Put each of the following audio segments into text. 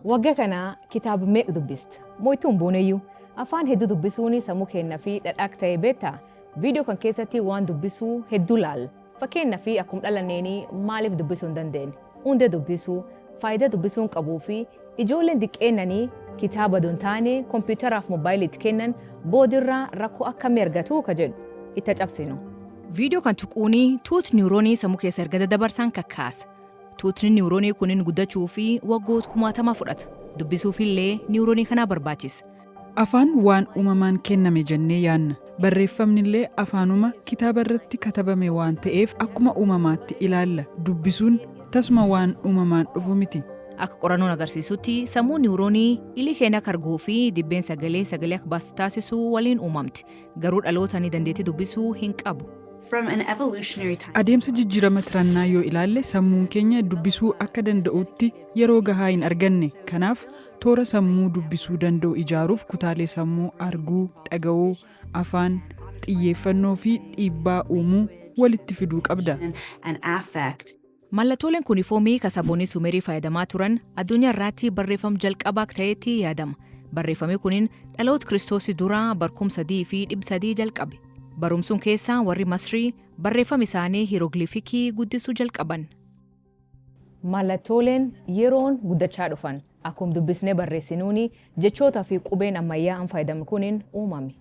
Wagga kana kitaab meeq dubbist? Mo ittuu hin buuneyyu? Afaan heddu dubbisuuni sammu keennafi dhadha akk ta'e beetta? Video kan keessatti waan dubbisuu heddu laal. Fakkeennafi akkum dhalanneeni maalif dubbisu hin dandeen? Undee dubbisu, faayida dubbisuun qabu fi ijoolleen diqqeennani kitaaba odo hin taane komputeraaf mobile itti keennan boodirra rakko akkammi argatu ka jedhu itta cabsinu. Video kan tuquuni tuut neuronii sammu keessa erga dadabarsaan kakkaasa. Tuutni niwuroonii kunin guddachuu fi waggoot kumaatama fudhata. Dubbisuuf illee niwuroonii kanaa barbaachisa. Afaan waan uumamaan kenname jennee yaanna. Barreeffamni illee afaanuma kitaaba irratti katabame waan ta'eef akkuma uumamaatti ilaalla. Dubbisuun tasuma waan uumamaan dhufu miti. Akka qorannoon agarsiisutti sammuun niwuroonii ilii keenya akka arguu fi dibbeen sagalee sagalee akka baastu taasisu waliin uumamti. Garuu dhaloota ni dandeetti dubbisuu hin qabu. From an evolutionary time. Adeemsa jijjiirama tirannaa yoo ilaalle sammuun keenya dubbisuu akka danda'utti yeroo gahaa hin arganne. Kanaaf toora sammuu dubbisuu danda'u ijaaruuf kutaalee sammuu arguu, dhaga'uu, afaan, xiyyeeffannoo fi dhiibbaa uumuu walitti fiduu qabda. and affect. Mallatoolen kuni foomii ka sabooni Sumerii fayadamaa turan adunya irraatti barreefam jalqabaa akka ta'eetti yaadama. Barreefami kunin dhaloot Kiristoosi dura bar 3300 jalqabe. Barum sun keessa warri Masrii barreefam isaani Hirogilifiki guddisu jalqaban. Mallatoolen yeroon guddachaa dhufan. Akkum dubbisne barreesinuuni jechoota fi qubeen ammayyaa'an fayadamn kunin uumame.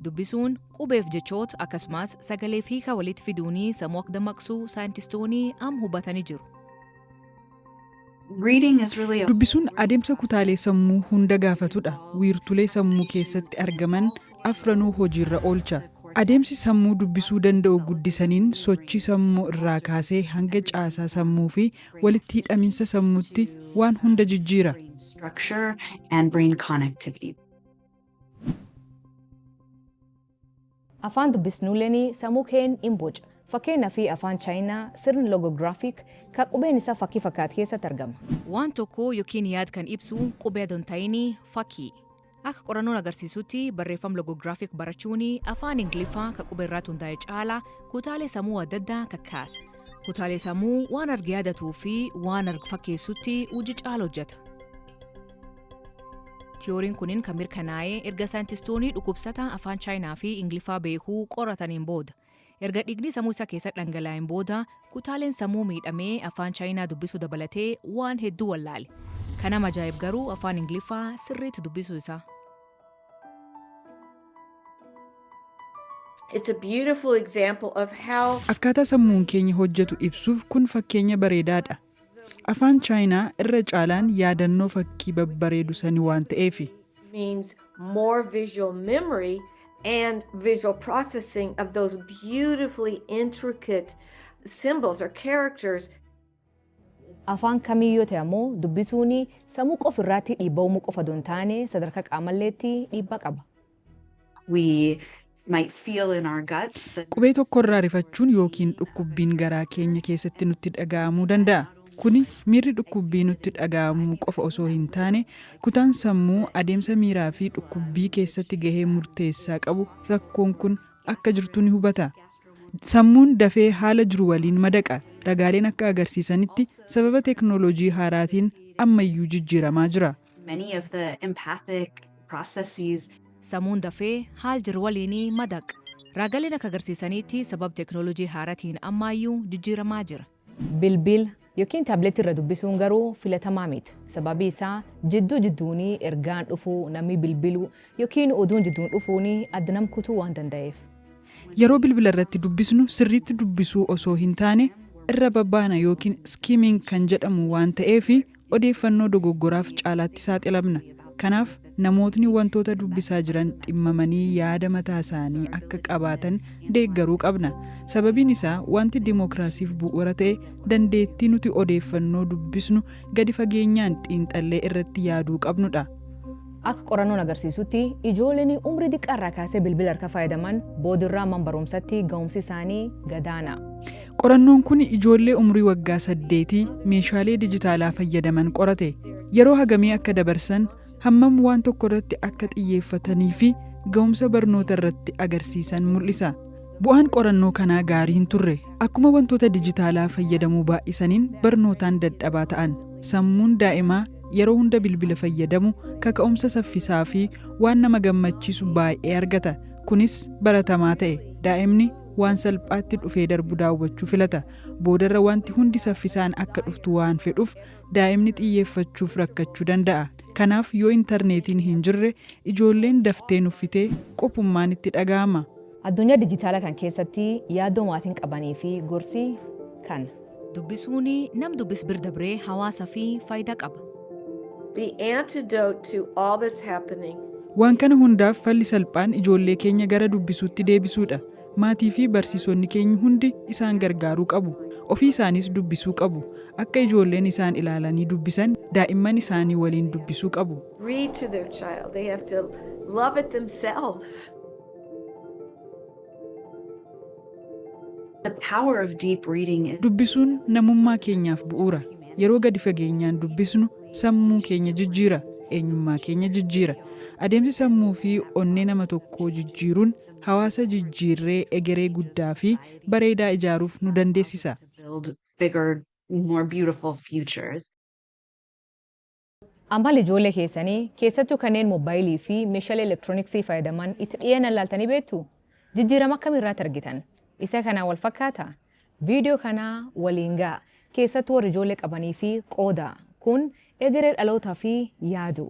Dubbisuun qubeef jechoota akkasumas sagalee fi hiika walitti fiduunii sammuu akka dammaqsu saayintistoonni amma hubatanii jiru. Reading is really a Dubbisuun adeemsa kutaalee sammuu hunda gaafatudha. Wiirtulee sammuu keessatti argaman afranuu hojiirra oolcha. Adeemsi sammuu dubbisuu danda'u guddisaniin sochii sammuu irraa kaasee hanga caasaa sammuu fi walitti hidhaminsa sammuutti waan hunda jijjiira. structure and brain connectivity. Afaan dubbisnuuleni samuu keen in boca. Fakkeenafi afaan China sirn logographic ka qubeen isa fakki fakkaat keessatti argama. Waan tokkoo yookiin yaad kan ibsu qubee adon taini fakkii. Akka qorannoon agarsiisutti barreeffam logographic barachuuni afaan Ingliffa ka qubee irraatti hundaa'e caala kutaalee samuu adda addaa kakkaasa. Kutaalee samuu waan arge yaadatuufi waan arg fakkeessutti hujji caala hojjata. Tiyooriin kunin kan mirkanaa'ee erga saayintistoonni dhukkubsataa afaan Chaayinaa fi Ingiliffaa beekuu qorataniin booda. Erga dhiigni sammuu isaa keessa dhangalaa'een booda kutaaleen sammuu miidhamee afaan Chaayinaa dubbisuu dabalatee waan hedduu wallaale. Kan ama ajaa'ib garuu afaan Ingiliffaa sirriitti dubbisuu isaa. It's a beautiful example of how Akkaataa sammuun keenya hojjetu ibsuuf kun fakkeenya bareedaadha. Afaan Chaayinaa irra caalaan yaadannoo fakkii babbareedu sani waan ta'eefi. means more visual memory and visual processing of those beautifully intricate symbols or characters Afaan kamiin yoo ta'e ammoo dubbisuun samuu qof irraatti dhiibba'uumuu qofa odoo hin taane sadarkaa qaamalleetti dhiibbaa qaba. Qubee tokko irraa rifachuun ykn dhukkubbiin garaa keenya keessatti nutti dhaga'amuu danda'a. Kuni miirri dhukkubbii nutti dhaga'amuu qofa osoo hin taane, kutaan sammuu adeemsa miiraa fi dhukkubbii keessatti gahee murteessaa qabu rakkoon kun akka jirtu ni hubata. Sammuun dafee haala jiru waliin madaqa. Ragaaleen akka agarsiisanitti sababa teknooloojii haaraatiin ammayyuu jijjiiramaa jira. many of the empathic processes. Samuun dafee haal jiru waliini madaq. Raagaleen akka agarsiisaniitti sabab teknolojii haaratiin ammaayyuu jijjiiramaa jira. Bilbil ykn tablet irra dubbisuun garuu filatamaa mit. Sababii isaa jidduu jidduuni ergaan dhufuu, namii bilbiluu ykn oduun jidduun dhufuuni adda nam kutuu waan danda'eef. Yeroo bilbila irratti dubbisnu sirriitti dubbisuu osoo hin taane irra babbaana ykn skimming kan jedhamu waan ta'eefi Odeeffannoo dogoggoraaf caalaatti saaxilamna. Kanaaf, namootni wantoota dubbisaa jiran dhimmamanii yaada mataa isaanii akka qabaatan deeggaruu qabna. Sababiin isaa wanti dimokiraasiif bu'uura ta'e dandeettii nuti odeeffannoo dubbisnu gadi fageenyaan xiinxallee irratti yaaduu qabnu dha. Akka qorannoon agarsiisutti, ijooleni umrii diqqaa irraa kaasee bilbila harkaa faayadaman boodirraa man barumsatti ga'umsi isaanii gadaana. Qorannoon kun ijoollee umrii waggaa saddeetii meeshaalee dijitaalaa fayyadaman qorate. Yeroo hagamii akka dabarsan, hammam waan tokko irratti akka xiyyeeffatanii fi ga'umsa barnoota irratti agarsiisan mul'isa. Bu'aan qorannoo kanaa gaarii hin turre. Akkuma wantoota dijitaalaa fayyadamuu baay'isaniin barnootaan dadhabaa ta'an. Sammuun daa'imaa yeroo hunda bilbila fayyadamu kaka'umsa saffisaa fi waan nama gammachiisu baay'ee argata. Kunis baratamaa ta'e. Daa'imni waan salphaatti dhufee darbu daawwachuu filata. Boodarra wanti hundi saffisaan akka dhuftu waan fedhuuf daa'imni xiyyeeffachuuf rakkachuu danda'a. Kanaaf yoo intarneetiin hin jirre ijoolleen daftee nuffitee qophummaan itti dhaga'ama. Addunyaa dijitaalaa kan keessatti yaaddoo maatiin qabanii fi gorsi kan. Dubbisuun nam dubbis bir dabree hawaasa fi faayidaa qaba. The antidote to all this happening. Waan kana hundaaf falli salphaan ijoollee keenya gara dubbisuutti deebisuudha. Maatii fi barsiisonni keenyi hundi isaan gargaaruu qabu. Ofii isaaniis dubbisuu qabu. Akka ijoolleen isaan ilaalanii dubbisan daa'imman isaanii waliin dubbisuu qabu. Read to their child. They have to love it themselves. The power of deep reading is Dubbisuun namummaa keenyaaf bu'uura. Yeroo gadi fageenyaan dubbisnu sammuu keenya jijjiira, eenyummaa keenya jijjiira. Adeemsi sammuu fi onnee nama tokkoo jijjiiruun hawaasa jijjiirree egeree guddaa fi bareedaa ijaaruuf nu dandeessisa. to build bigger, more beautiful futures. Amala ijoollee keessanii, keessattuu kanneen mobbaayilii fi meeshaalee elektirooniksii fayyadaman itti dhiyeenyaan ilaaltanii beektuu? Jijjiirama akkamii irraatti argitan? Isa kanaan wal fakkaataa? Viidiyoo kana waliin ga'aa, keessattuu warri ijoollee qabanii fi qoodaa. Kun egeree dhalootaa fi yaaduu.